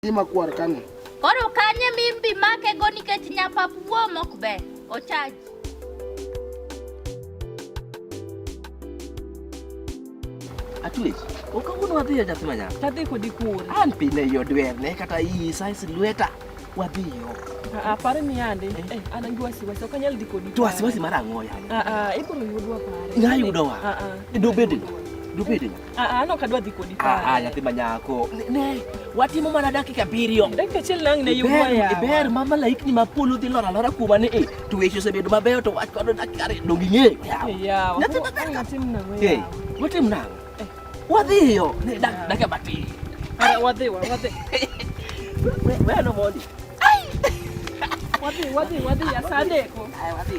Gima kwar kani. Koro kanye mimbi make go nikech nyapap wuo mok be. Ochaji. Atwech, ok awuon wadhi e nyathi manyako. Tadhi kodi kuon. An pile yo dwer ne kata iyi size lweta. Wadhi yo. Ah, pare ni ande. Eh, eh an angi wasiwasi, ok anyal dhi kodi. To wasiwasi mar ang'o yaye? Ah, ah, ibiro yudwa pare. Ng'a yudowa? Ah, ah. Dobedni. Dobedni. Ah, ah, no kadwa dhi kodi pale. Ah, ah nyathi manyako. Ne, watimo mana dakika abiriyo. Dakika achiel nang' ne yumo ya. Ber ma malaikni ma polo dhi lora lora kuoma ni e, to weche osebedo mabeyo to wach kodo dakika ariyo dong ing'eyo. Yawa. Nyathi maber ka. Watim nang'o yawa. Watim nang'o. Eh. Wadhiyo. Dakika matin. Ara wadhi wa wadhi. Wewe no mondi. Wadhi wadhi wadhi asante ko. Ai wadhi.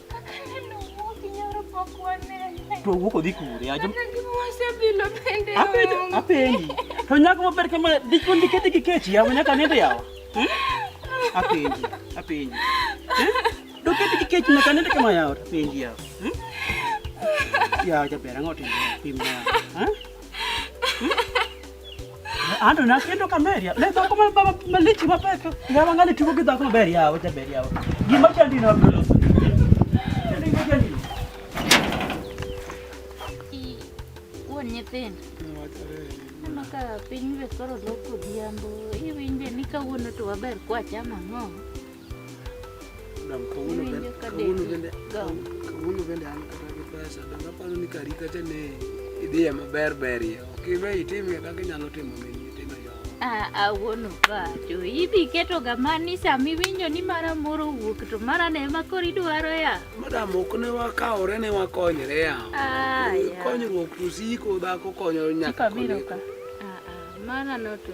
Tuwuok odhi kure? Apenji. To nyako maber kama dikon dikete gi kech yawa nyaka nende yawa. Hmm? Apenji. Apenji. Hmm? Dokete gi kech nyaka nende kama yawa apenji yawa. Hmm? Yawa jaber ang'o timo pimna. Ha? Ando na kendo kameria. Ne to kuma baba malichi mapeka. Ya bangali tuko kidha kuma beri yao, cha beri yao. Gima cha ndino abdolo. Ndinga cha ndino. I wonye pen. Maka piny be koro loko dhiambo. Iwinje ni kawuono to waber kwa chama ng'o. kawuono bende an kata gi pesa donge aparo ni kari kacha ne idhiye maber ber ye ok iwe itimie kaka inyalo timo mini awuono pacho idhi keto ga mani sama iwinjo ni mara moro owuok to mara ne ma koro idwaro ya madam ok ne wakawore ne wakonyre ya konyruok to siko dhako konyo nyaka biro ka mana noto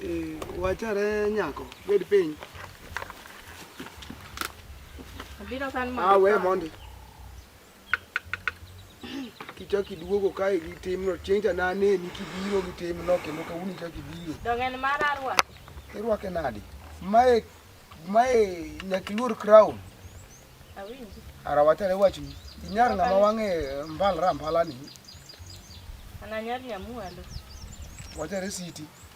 eh, eh, wachare nyako Bed piny. Abiro san mondo. Ah, we mondi. Kichaki duogo kae gi timno chieng' cha nane ni kibiro gi timno kendo kawuono ichaki biro. Donge en mar arwak. Irwake nadi? Mae mae nyakiluor crown. Awinji. Ara wachare wachni. Inyar ng'ama wang'e eh, mbal rampala ni. Ananyar nyamwalo. Wachare siti.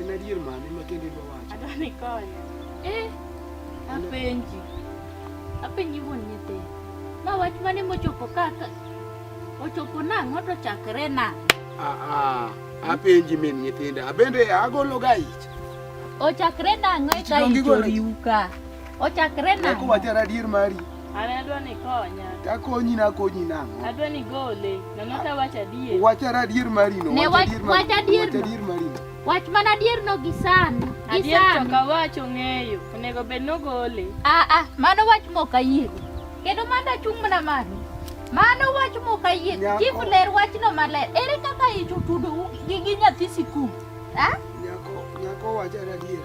En adier mane ma kende dwa wacho? Adwa ni konya. Eh, apenji. Apenji wuon nyithi. Ma wach mane mochopo kaka? Ochopo nang'o to chakre nang'o? Ah, ah, apenji min nyithinda. Abende agolo ga ich. Ochakre nang'o eka ich oriwu ka? Ochakre nang'o? Eko wachara adier mari. An adwa ni ikonya. Takonyi nakonyi nang'o? Adwa ni gole. Nono ta wach adier. Wachara adier marino. Ne wach wach adier. Wach adier marino. Wach mana adier no gi san. Adier to ka wach ong'eyo. Onego bed no gole. Ah ah, mano wach mok ayie. Kendo manda chung' mana mano. Mano wach mok ayie. Chief ler wachno maler. Ere kaka ichutudo gi nyathi sikul? Ah? Nyako, nyako wachara adier.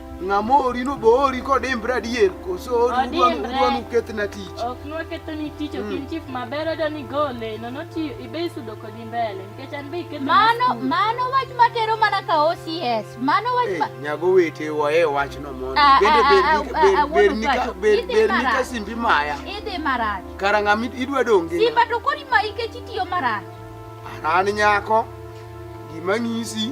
Ng'amori no boori kodimbre adier koso udwan ukethna tich. Ok nwakethoni tich ok in mm. chief maber odo ni gole nono ti ibe isudo kodi mbele nikech an be iketho. Mano mano wach matero mana ka OCS. Mano wach ma Nyago wete wae wach no mondo. Ah, Bende ah, ah, ber ni ka ber ber ni ka simbi maya. Idhi marach. Kara ng'ami idwa donge. Simba to kori ma ikech itiyo marach. An nyako gima ng'isi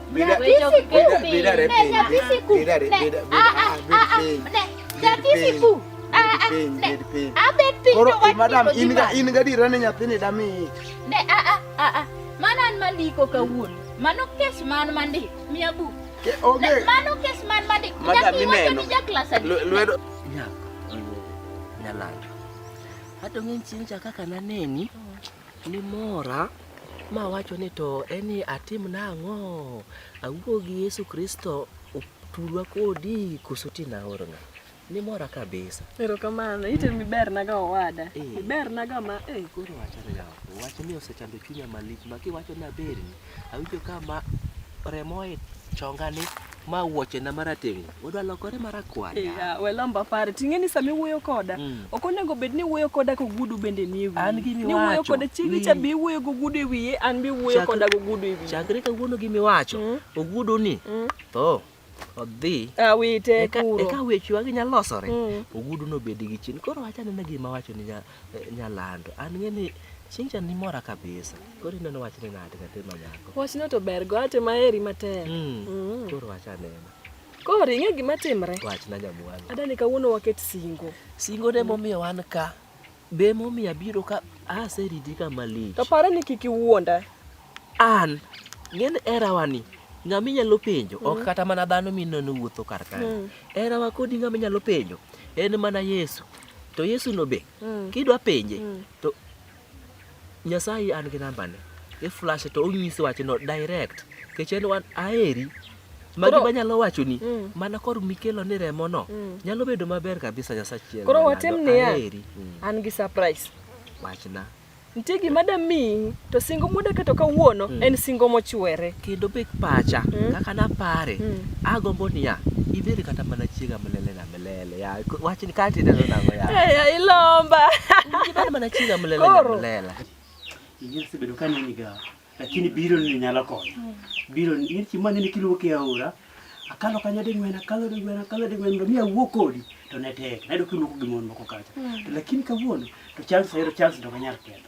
Mana an mandiko kawuono. Mano kes man mandi, mia buk. Ke onge. Mano kes man mandi. Madam ineno. Lwedo. Nyako. Nyalando. Hata ng'eny chieng' cha kaka naneni. ni mora ma wacho ni to en ni atim nang'o awuo gi Yesu Kristo otudwa kodi koso ti naorna ni mora kabisa. Erokamano, ite mi ber na ga owada. Eh. Ber na ga ma eh. Koro wachore ga. Wach ni osechando chunya malich ma kiwacho na ber ni. Awinjo ka ma remo e chonga ni ma wuoche na marateng' odwa lokore marakwar. Yeah, we lamba pare. Ting'e ni sami wuoyo koda. Mm. Ok onego bed ni wuoyo koda ko gudu bende ni ewi. An gi Ni wuoyo miwacho. koda chiegi cha bi wuoyo go gudu ewiye an bi wuoyo Chakre- koda go gudu ewiye. Chakre kawuono gi miwacho, Mm. ogudu ni Mm. tho. odhi awite kuro eka weche wagi nya losore mm. ogudu no bedi gi chin koro acha nene gi ma wacho ni nya eh, nya lando an nge ni chincha ni mora kabisa koro ino no wachne nade ka tema nyako wach no to bergo ate ma eri matek mm. mm. koro acha nene koro inge gima timre wachna nyamwana adani kawuono waket singo singo ne momiyo wan ka Be momi abiro ka aseriti kama lich. To pare ni kik iwuonda. An ng'en erawa ni ng'ama inyalo penjo mm. ok kata mana dhano mineno wuotho kar kae. Mm. Erawa kodi ng'ama inyalo penjo en mana Yesu. To Yesu no be mm. kidwa penje mm. to Nyasaye an gi nambane, i flash to onyisi wachno direct kech en wan aheri magi manyalo wachoni mm. mana kor mikelo ni remono mm. nyalo bedo maber kabisa nyasachiel koro watim niya mm. an gi surprise wachna nitie gima da miyi to singo mudaketo kawuono mm. en singo mochwere kendo bek pacha mm. kaka napare mm. agombo niya ibed kata mana chiega mlelena Mlele ya wacha nikati ndio nango ya. Eh, ya ilomba. Kibali mana chinga mlele ya mlele. Ingine sibedo kani ni ga. Lakini biro ni nyala ko. Biro ni ni chimani ni kilo ke aura. Akalo kanya de ngwena kalo de ngwena kalo de ngwena mia wokodi to ne tek. Nado kilo ko gimon moko kacha. Hmm. Lakini kawuono to chance ayudo chance ndo kanyar kendo.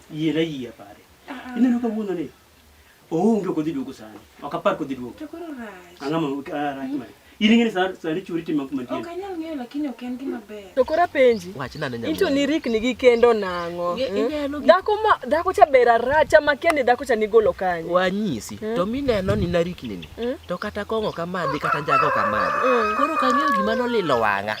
Yie na yie pare. Ah, ah. Ineno ka wuono ni. Oonge ok odhi duogo sani. Ok apar kodhi duogo. To koro rach. Ang'o ma ah, rach mari? In ing'e ni sani sani churi tim mantie. Ok anyal ng'eyo lakini ok en gima ber. To koro apenji. Wach nane nyamwe. Into ni rikni gi kendo nang'o. Hmm? Dhako ma dhako cha bera racha ma kendi dhako cha nigolo kanye. Wanyisi. Hmm? To mineno ni narikni ni. Hmm? To kata kong'o kamadhi kata njago kamadhi. Koro kang'eyo gima nolilo wang'a.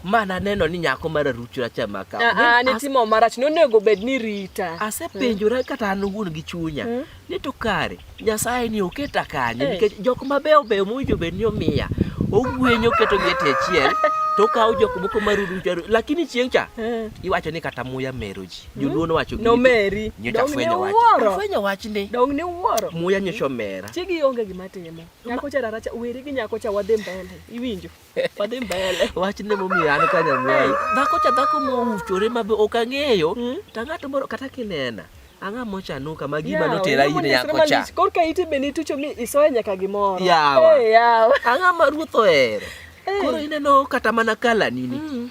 ma naneno ni nyako mar arucho racha maka ah, ah, nitimo marach nonego bed ni rita asepenjora hmm. kata an wuon gi chunya hmm. ni to kare nyasaye ni oketa kanye eh. nikech jok mabeyo beyo mowinjo bed ni omiya ogwenyo keto gi ete achiel to kawo jok moko marurucho lakini chieng' cha eh. iwacho ni kata muya mero ji hmm. joluo nowacho nomeri nyocha fwenyo wach fwenyo wach ni dong ni wuoro muya nyocha omera chigi onge gima timo nyako cha raracha weri gi nyako cha wadhi mbele iwinjo Wadhi mbele. Wach ne momiyo an ka nyamwai. Dhako cha dhako mouchore ma ok ang'eyo. Hmm? Ta ng'ato moro kata kinena. Ang'a mochanuka ma gima yeah, notera in yako cha. Korka ite be nitucho mi isoya nyaka gimoro. Yawa. Hey, yawa. Ang'a ma ruoth ohero. Hey. Koro ineno kata mana kala nini. Mm.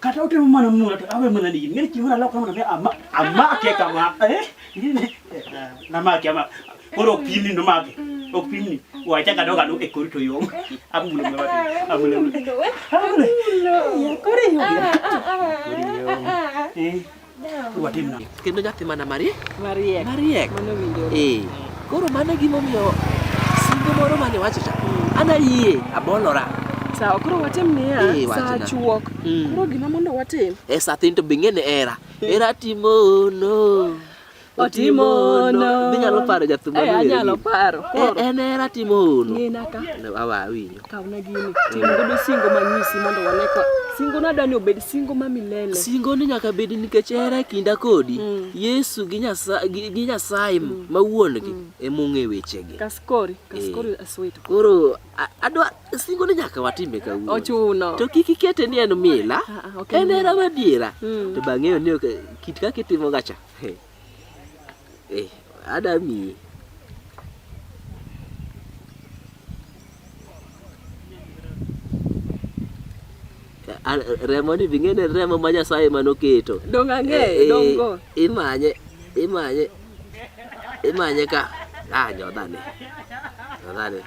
kata utemo mana mula to awe mana nigi ng'e chieng' nalok kama nami amake kama eh namake ama koro ok pimni nomake ok pimni wacha kado kado e kori to yom amulo mwa amulo amulo kori yom watim nang'o? Kendo nyathi mana mariek. Mariek. Mariek. Mano winjore. Eh. Koro mano e gimomiyo singo moro mane wacho cha. Hmm. Ana yie abolora. Sawa, koro watim niya, eh, saa chuok. Hmm. Koro gima mondo watim. Eh, saa tin to bing'e ne era. Eh. Era timo no. otimo hono. Inyalo paro jathum Eh, malueri. anyalo paro. Eh, Koro, En era timo hono. ng'ina ka. Awa awinjo. Kawna gini. Tim godo singo manyisi mondo wane ka. Singo nadwa ni obed singo ma milele. Singo ni nyaka bed nikech era e kinda kodi. Mm. Yesu gi Nyasaye gi gi Nyasaye ma wuongi ema ong'e wechegi. Kaskori, kaskori asweto. Koro a- adwa singo ni nyaka watime kawuono. Ochuno. To kik ikete ni en mila. Ah, ah, ok en En mila. era madiera. Mm. To bang'eyo ni ok- kit kaka itimoga cha. Hey. Hey. Adami. remo ni ving'ene remo ma Nyasaye manoketo. Donga ng'e, eh, eh, dongo. Imanye, imanye, imanye ka. Ah, nyodhane. Nyodhane.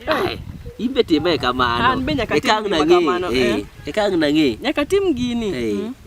Ai, imbe time kamano. An be nyaka tim kamano. Eh, eh. Ekang' nang'e. Nyaka tim gini. Eh. Mm.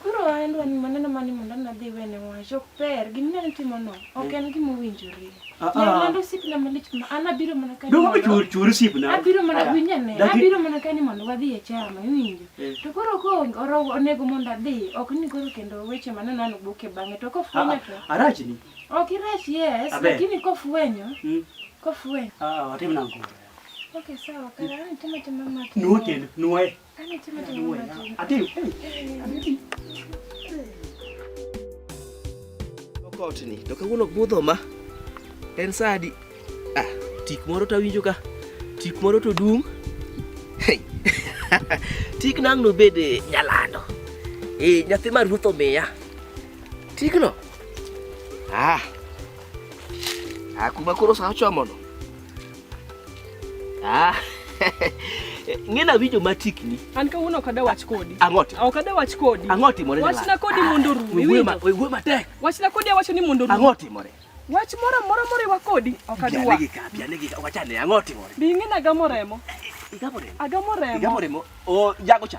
Koro an dwani mane nama ni mondo nadhi wene wach ok ber gima ne timono ok en gima owinjore. Ah, ah. Ne lando sipna malich ma an abiro mana ka Dongo chur chur sipna. Abiro mana ah. winya ne abiro mana ka ni mondo wadhi e chama iwinjo. Eh. To koro ko oro onego mondo adhi ok ni koro kendo weche mane nano boke bang'e to kofwenyo to. Arach ni. Ok irach yes lakini kofwenyo. Hmm. Kofwenyo. Ah, watim nangu. Okay sawa kara ni tuma tuma maki. Nuo tena nuo. Kotni to kawuono budho ma en sadi ah, tik moro to awinjo ka tik moro to dung tik nang' nobed eh, nyalando e nyathi ma ruoth omiya tikno ah, ah kuma koro sa ochomono Ah. Ng'ena winjo matikni. An kawuono ok adawach kodi. Ang'oti. Ok adawach kodi. Ang'oti more. Wachna kodi mondo rumi. Wuo matek. Wachna kodi awacho ni mondo rumi. Ang'oti more. Wach moro moro moriwa kodi ok adwa. Anegi ka, anegi ka, wachane ang'oti more. Bi ng'ena gamo remo. Igamo remo. Agamo remo. Igamo remo. O jago cha.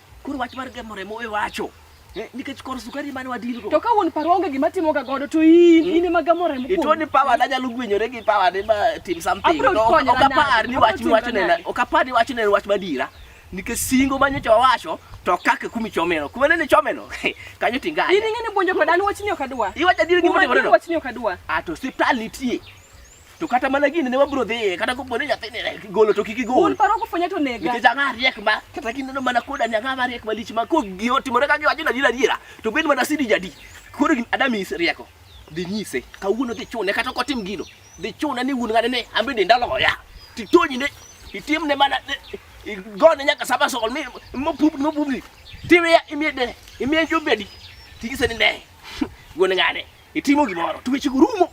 Koro wach mar gemo remo we wacho. Eh, nikech kor sukari mane wadilgo. To ka wuon paro onge gima timo ga godo to in hmm? in ema gamo remo. Ito ni power na nyalo gwenyore gi power ne ma tim something. No, okapar ni wach mi wacho ne okapar ni wacho ne wach madira. Nikech singo ma nyocha wawacho to kaka kumi chomeno. Kuma ne chomeno. Kanyo tinga. In ng'e ni bonjo kodan wach ni okadwa. Iwacha dir gima timore. Wach ni okadwa. A ah, to hospital nitie. To kata mana gini ne wabro dhi kata ko pone nyathi ne golo to kiki gol. Un paro ko fanya to nega. Nikech ang'a riek ma kata kinde no mana koda ni ang'a ma riek malich ma ko gi otimore ka giwacho na dira dira to bed mana sidi jadi. Koro gin adami is rieko. Dhi nyise kawuono dhi chune kata ko tim gino. Dhi chune ni wuon ng'ane ne ambe denda loya. Titonyi ne itim ne mana igone nyaka saba sol mi mo pup mo pup ni. Tiwe ya imie de imie jubedi. Tigise ni ne. Wuon ng'ane. Itimo gimoro, to weche rumo.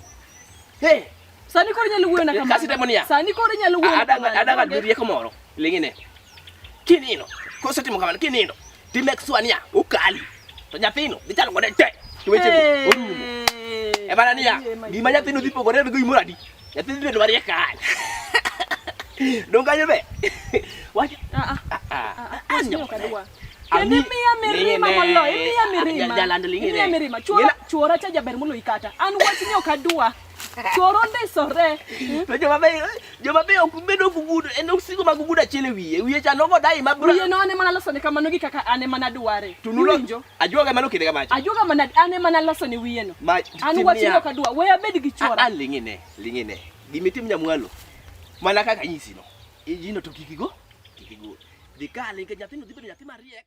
Hey. Sani koro nyalo wuoyo na kamano. Kasi demo niya. Sani koro nyalo wuoyo na kamano. Adaga adaga rieko moro. Lingine. Kinino. Koso timo kamano kinino. Ti make sure niya ukali. To nyathino dhi chalo kode te. To weche go orumo. E bana niya. Gima nyathino dhi pogore go imora di. Nyathino dhi bedo mariek kae. Donga nyebe. Wacha. Ah ah. Ah ah. Anyo kadwa. Kendo imiya mirima moloyo, imiya mirima. Jaland ling'ine. Imiya mirima. Chuora, chuora cha jaber moloyi kata. An wachni ok adwa. Chuora ondisore. Hmm? To joma be joma be ok bedo gugudo, en ok sigo mag gugudo achiel e wiye. Wiye cha nogo dai ma bra. Wiye no ane mana losone kamano gi kaka ane mana dware. Tunulonjo. Ajuoga mano kinde kamacho. Ajuoga mana ane mana losone wiye no. An wachni ok adwa. Weya bed gi chuora. An ling'ine, ling'ine. Gimitim nyamwalo. Mana kaka nyisi no. Iji no to kik igo, kik igo. Dhi kali nikech nyathino dhi bedo nyathi mariek.